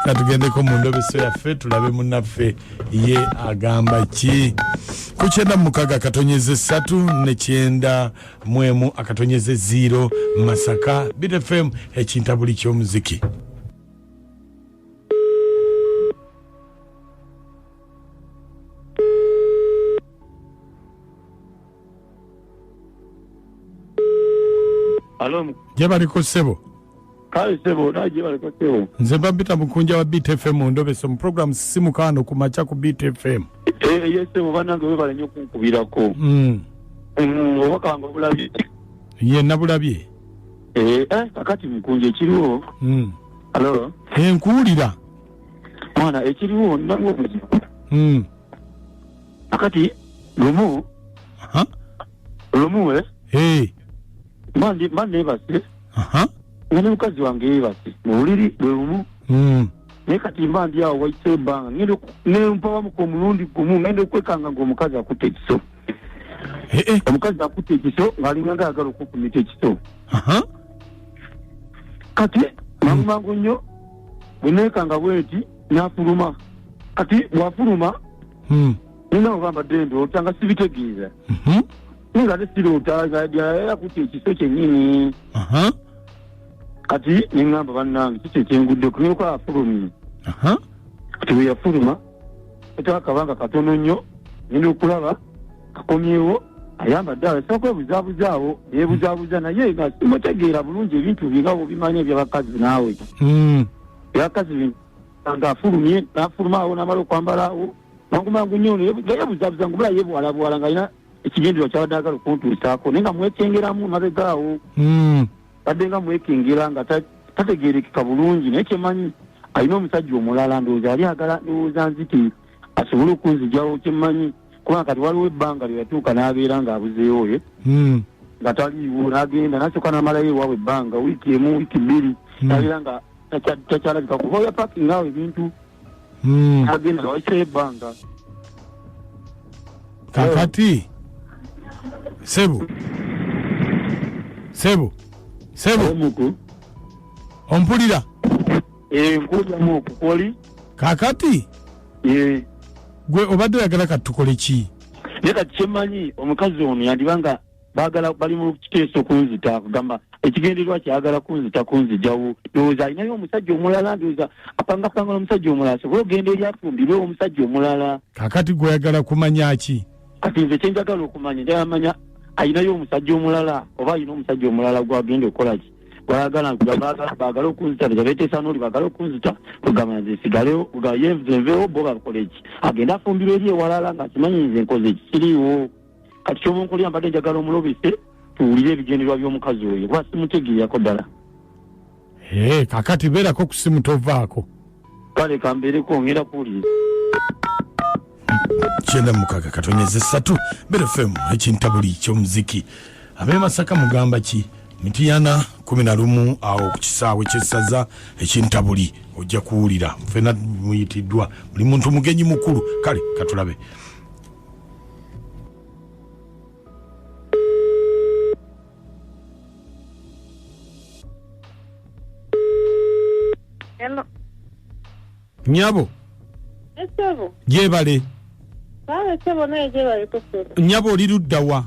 katugendeko mu ndobeso yaffe tulabe munaffe ye agamba ki ku kyenda mukaga akatonyeze satu ne kyenda mwemu akatonyeze ziiro masaka bitfm ekintabuli ky'omuziki gye baliko ssebo kale sebo naye gyebaleko sebo nze mba mpita mukunja wa beat fm ondobese mu program simukaano ku makya ku beat fm Eh, ye sebo banange webale nyo okunkubirako Mm. Mm, obubaka wange obulabye ye nabulabye Eh, eh, kakati mukunja ekiriwo Mm. alo Eh, nkuwulira mwana ekiriwo nange obuzibu Mm. kakati lumu Aha. lumu eh, Eh, mandi mandi ebase aha nga ne mukazi wange yebase mu buliri bwe bumu Mm. naye kati mba ndi awo wayise ebbanga ngenda oku- ne mpabamuka omulundi gumu ngenda okwekanga ng'omukazi akutte ekiso Eh, eh. omukazi akutte ekiso ng'alinga nga ayagala okukumita ekiso aha kati mangu mangu nnyo bwe neekanga bwenti n'afuluma kati bw'afuluma Mm. nina ogamba ddembe ota nga sibitegeeza Mhm. naye nga ate siroota nga yayala kutta ekiso kyennyini aha kati ne ŋŋamba bannange kiki ekyengudde okumyuka afulumye aha kati bwe yafuluma etaba akabanga katono nnyo nina okulaba akomyewo ayambadde awo esaba kwebuzabuzaawo yebuzabuza naye nga simutegeera bulungi ebintu bye nga bobimanya ebyabakazi naawe Mm. ebyakazi bino nga afulumye nafuluma awo namala okwambala awo mangu mangu nnyo ono yebu- nga yebuzabuza ngumula yebuwalabuwala nga alina ekigendererwa kyabadde agala okuntuusaako naye nga mwekyengeramu mabega awo hmm. badde nga mwekengera nga tategerekeka bulungi naye kyemanyi alina omusajja omulala ndowooza yali agala ndowooza nziti asobole okunzijawo kyemanyi kubanga kati waliwo ebbanga lye yatuuka n'abeera ng'abuzeewo ye hmm. nga taliiwo n'agenda nasooka n'amalayo ewaabwe ebbanga wiiki emu wiiki bbiri hmm. nabeera nga takyalabika kuba oya pakinga awo ebintu Mm. agenda waitayo ebbanga kakati sebo sebo sebo omuku ompulira enkujamu okukoli kakati gwe obadde oyagala kati tukole ki naye kati kyemanyi omukazi ono yandiba nga bagala bali mu kiteeso kunzita kugamba ekigendererwa kyagala kunzita kunzijawo ndowooza alinayo omusajja omulala ndowooza apangapanga n'omusajja omulala sobola ogenda eri afumbirwe omusajja omulala kakati gweyagala kumanya ki kati nze kyenjagala okumanya njayamanya alinayo omusajja omulala oba alina omusajja omulala gwagenda okukola ki gwayagala bagala okunzita tezabeteesa noli bagala okunzita kugamba nze sigalewo yenvenvewo bo bakola eki agenda afumbirwa eri ewalala nga kimanyi nze nkoze ekikiriiwo kati kyobunkulira mbadde njagala omulobese tuwulire ebigenderwa by'omukazi oyo kuba simutegeeyako ddala ee kakati beerako ku simu tovaako kale kambeereko ngenda kuwulire kyenda mukaga katonyeza esatu berefemu ekintabuli kyomuziki abemasaka mugamba ki mitiyana kumi na lumu awo ku kisaawe kyesaza ekintabuli ojja kuwulira fena muyitiddwa buli muntu mugenyi mukulu kale katulabe Hello. nyabo Esebo. gyebale Sawa esebo naye gye bali kusula. nyabo oli ludda wa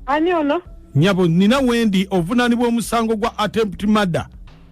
Ani ono? nyabo nina wendi ovunaanibwa omusango gwa attempt mada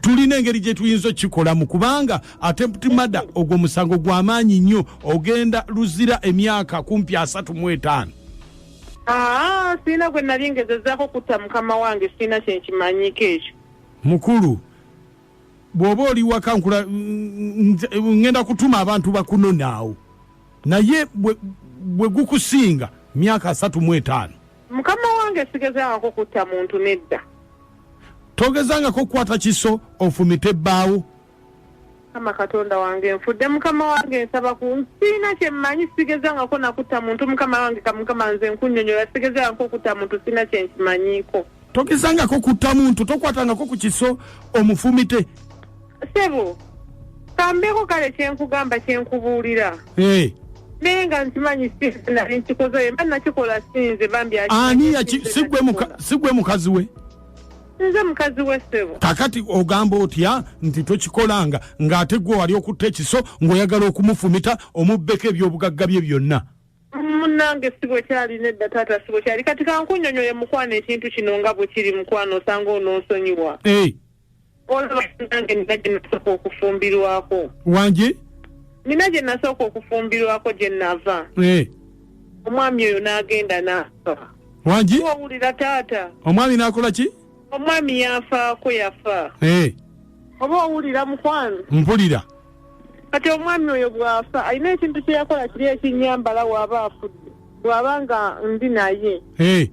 tulina engeri gye tuyinza okukikolamu kubanga atempti mada ogwo musango gwa maanyi nnyo ogenda luzira emyaka kumpi asatu mu etaano ah, sirina gwe nali ngezezaako kutta mukama wange sirina kyenkimanyiko ekyo mukulu bw'oba oli waka nkula ngenda kutuma abantu bakunonaawo naye bwe gukusinga myaka asatu mu etaano Mukama wange sigezangako kutta muntu nedda. Togezangako kukwata kiso ofumite bbaawo. Mukama Katonda wange nfudde mukama wange nsaba ku nsiina kye mmanyi sigezangako nakutta muntu mukama wange ka mukama nze nkunyonyola sigezangako okutta muntu siina kye nkimanyiiko. Togezangako kutta muntu tokwatangako ku kiso omufumite. sebo kambeeko kale kyenkugamba kyenkubuulira Eh, naye nga nkimanyi sinze nali nkikoze mba nakikola sinze bambi aki- ani sinze yaki si gwe muka- nakikola. si gwe mukazi we nze mukazi we sebo kakati ogamba otya nti tokikolanga ng'ate gwe wali okutta ekiso ng'oyagala okumufumita omubbeko ebyobugagga bye byonna munange si bwe kyali nedda taata si bwe kyali kati kankunyonyole mukwano ekintu kino nga bwe kiri mukwano osanga ononsonyiwa Eh, olaba nange nina gye nasooka okufumbirwako wangi nina gye nasooka okufumbirwako gye nava Eh, omwami oyo n'agenda n'afa wangi owulira taata omwami n'akola ki omwami yafaako yafa Eh, oba owulira mukwano mpulira kati omwami oyo bw'afa alina ekintu kye yakola kiri ekinnyambala waaba afudde bw'aba nga ndi naye Eh,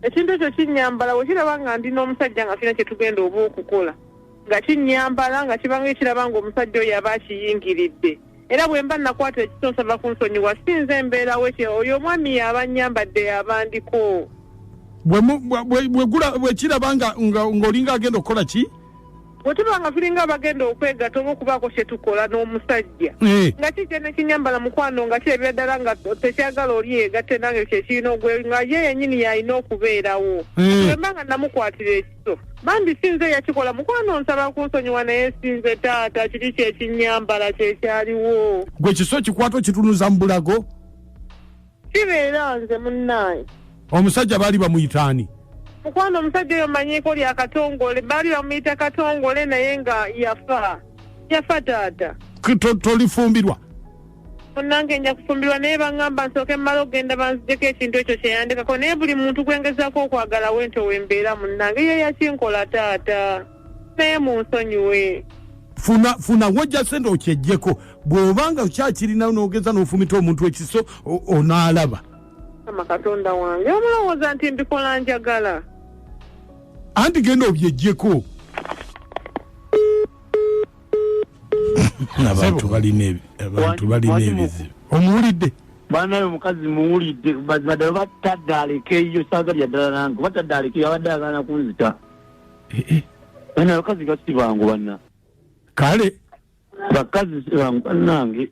ekintu ekyo kinnyambala we kiraba nga ndi n'omusajja nga tulina kye tugenda oba okukola nga kinnyambala nga kibanga ekiraba nga omusajja oyo aba akiyingiridde era bwe mba nakwata ekiso nsaba kunsonyiwa si nze embeerawo ekyo oyo omwami yaaba nnyambadde yaaba ndiko bwe mu- bwe- bwe- bwe gula- bwe kiraba nga- nga- ng'olinga agenda okukola ki bwe tuba nga tulinga abagenda okwegata oba okubaako kye tukola n'omusajja eh. nga kikye ne kinyambala mukwano nga kirabira ddala nga tekyagala oli yegatte nange kyekirina ogwe nga ye yenyini yalina okubeerawo eh. wemba nga namukwatira ekiso bambi sinze yakikola mukwano nsaba kunsonyiwa naye sinze taata kiri kyekinyambala kyekyaliwo gwe kiso kikwata okitunuza mu bulago kibeera nze munnaye omusajja baali bamuyita ani mukwano omusajja oyo manyiiko lya katongole baali bamuyita katongole naye nga yafa yafa taata tolifumbirwa munange nja kufumbirwa naye baŋŋamba nsooke mmala okugenda banzijeko ekintu ekyo kyeyandikako naye buli muntu gwengezaako okwagala wento wembeera munange ye yakinkola taata naye munsonyiwe funa funa wojja sente okyejjeko bw'obanga okyakirina n'ogeza n'ofumita omuntu ekiso o- onaalaba ama katonda wange omulowooza nti mbikola njagala anti genda obyejjeko abantu balina ebi- abantu balina ebizibu omuwulidde banaye omukazi muwulidde mazima ddala oba tadde alekeyo saaga lya ddala nange oba tadde alekeyo abadde agaana kunzita eh, eh. bana abakazi basi bangu bana kale bakazi bangu banange